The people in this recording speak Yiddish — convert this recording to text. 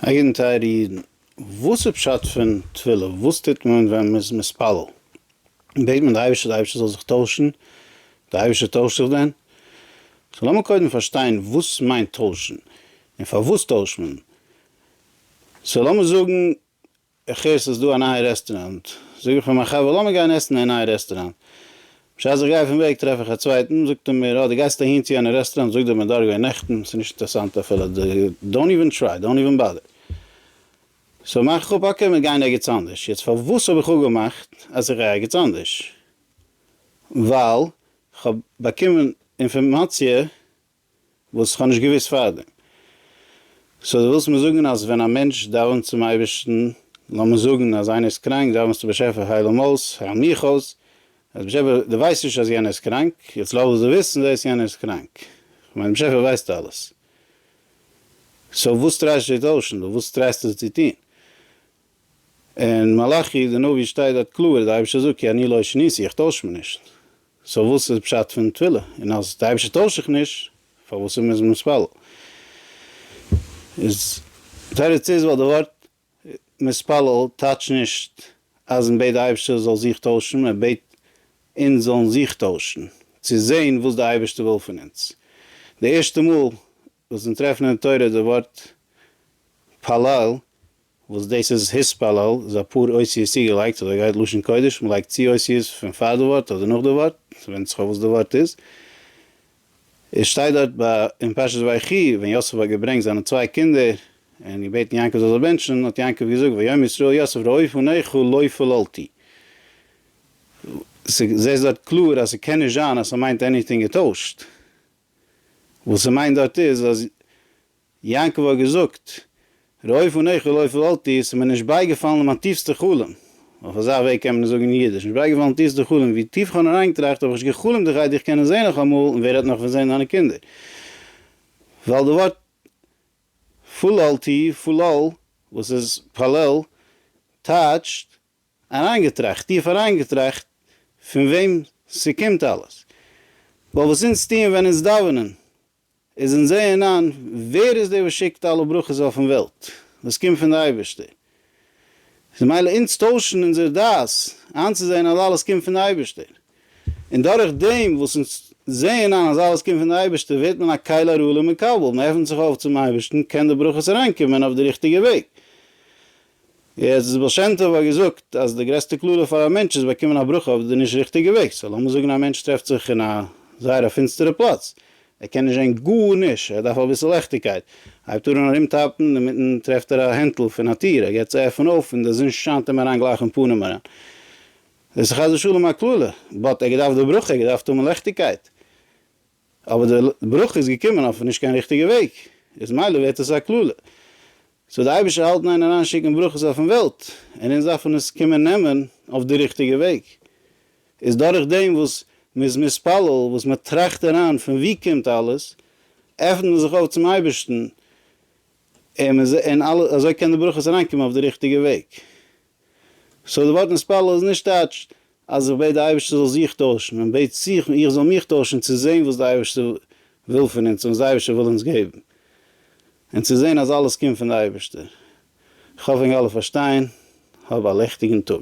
אייגענע טייערע אידן, וואס איז פשט פון תפילה? וואס טוט מען ווען מען איז מתפלל? בעט מען די אייבערשטער די אייבערשטער זאל זיך טוישן? די אייבערשטער טוישט זיך דען? סאו לאמיר קודם פארשטיין וואס מיינט טוישן? און פארוואס טוישט מען? סאו לאמיר זאגן איך הער ס'איז דא א נייע רעסטוראנט, זאג איך פאר מיין חבר לאמיר גיין עסן אין נייע רעסטוראנט. בשעת איך גיי פון וועג טרעף איך א צווייטן, זאגט ער מיר, אה דו גייסט אהין צו יענע רעסטוראנט, זאג דיר מ'איז דארט געווען נעכטן, ס'איז נישט אינטערסאנט אפילו, דאונט איווען טריי, דאונט איווען באדער. סאו מאך איך אפ, אקעי מיר גייען ערגעץ אנדערש. יעצט פארוואס האב איך אפגעמאכט אז איך גיי ערגעץ אנדערש? ווייל כ'האב באקומען אינפארמאציע וואס איך האב נישט געוואוסט פארדעם. סאו דו ווילסט מיר זאגן אז ווען א מענטש דאווענט צום אייבערשטן, לאמיר זאגן אז איינער איז קראנק, דאווענסטו באשעפער הייל אים אויס, הייל מיך אויס, אז באשעפער דו ווייסט נישט אז יענער איז קראנק, יעצט לאמיר זיך וויסן דאס יענער איז קראנק, כ'מיין באשעפער ווייסט אלעס, סאו וואס טרייסטו צו טוישן דא, וואס טרייסטו זיך צו טון? אין מלאכי די נביא שטייט דארט קלאר די אייבערשטער זאגט כי אני לא אשניתי איך טויש מיר נישט, סאו וואס איז פשט פון תפילה און אז די אייבערשטער טוישט זיך נישט פארוואס איז מוז מען מתפלל איז תירוץ איז ווייל די ווארט מתפלל טייטש נישט אז מען בעט די אייבערשטער זאל זיך טוישן מען בעט אונז זאלן זיך טוישן צו זען וואס די אייבערשטער וויל פון אונז די ערשטע מאל וואס אונז טרעפן אין תורה די ווארט פאלל, וואס דאס איז התפלל, איז אפאר אותיות צוגעלייגט, אזוי גייט לשון קודש, מען לייגט צו אותיות פון פאר די ווארט אדער נאך די ווארט, ס'ווענדט זיך אויף וואס די ווארט איז. עס שטייט דארט ביי אין פרשת ויחי, ווען יוסף האט געברענגט זיינע צוויי קינדער, און געבעטן יעקב זאל זיי בענטשן, האט יעקב געזאגט ויאמר ישראל יוסף ראי' פניך לא פללתי. זעסט דארט קלאר אז ס'קען נישט זיין אז ס'מיינט עניטינג געטוישט. וואס ס'מיינט דארט איז אז יעקב האט געזאגט ראה פניך ולא פללתי, עס איז מיר נישט בייגעפאלן אין מיין טיפסטע חלום, אויף אזא וועג קען מען עס זאגן אין אידיש, נישט בייגעפאלן אין טיפסטע חלום, ווי טיף איך האב נאר איינגעטראכט האב איך נישט גע'חלומ'ט דיך גייט דיך קענען זעהן נאכאמאל און ווער רעדט נאך פון זעהן דיינע קינדער, ווייל די ווארט פללתי, פלל, וואס איז פאלל, טייטשט אריינגעטראכט, טיף אריינגעטראכט פון וועם ס'קומט אלעס, ווייל וואס אונז טוען ווען אונז דאווענען איז אונז זעען איין ווער איז דער וואס שיקט אלע ברכות אויפן וועלט, וואס קומט פון די אייבערשטער, איז מילא אונז טוישן אונזער דעת איינצוזען אז אלעס קומט פון די אייבערשטער, און דורך דעם וואס אונז זעען איין אז אלעס קומט פון די אייבערשטער ווערט מען א כלי ראוי למקבל, מען עפנט זיך אויף צום אייבערשטן, קען די ברכות אריינקומען אויף די ריכטיגע וועג, יעצט דאס בעל שם טוב האט געזאגט אז די גרעסטע קללה פאר א מענטש איז באקומען א ברכה אויף די נישט ריכטיגע וועג, סאו לאמיר זאגן א מענטש טרעפט זיך אין א זייער א פינסטערע פלאץ, ער קען נישט זען גארנישט, ער דארף אביסל לעכטיגקייט, ער הייבט אהן ארוםטאפן, אינמיטן טרעפט ער א הענטל פון א טיר, ער געט צו עפענען אויף און די זון שיינט אים אריין גלייך אין פנים אריין. דאס איז חס ושלום א קללה, באט ער האט געדארפט די ברכה, ער האט געדארפט האבן לעכטיגקייט. אבער די ברכה איז געקומען אויף נישט קיין ריכטיגע וועג, איז מילא ווערט עס א קללה. סאו די אייבישטער האלט ניין אריין שיקן ברכות אויפן וועלט, און אונז דארפן עס קומען נעמען אויף די ריכטיגע וועג. איז דורך דעם וואס מען איז מתפלל, וואס מען טראכט אריין פון ווי קומט אלעס, עפנט מען זיך אויף צום אייבישטן, און אזוי קען די ברכות אריינקומען אויף די ריכטיגע וועג. סאו די ווארט נתפלל איז נישט טייטש אז איך בעט די אייבערשטער זאל זיך טוישן, מען בעט זיך איך זאל מיך טוישן צו זען וואס די אייבערשטער וויל פון אונז און וואס די אייבערשטער וויל אונז געבן, און צו זען אז אלעס קומט פון די אייבערשטער. איך האף ענק אלע פארשטייען, האב א לעכטיגן טאג.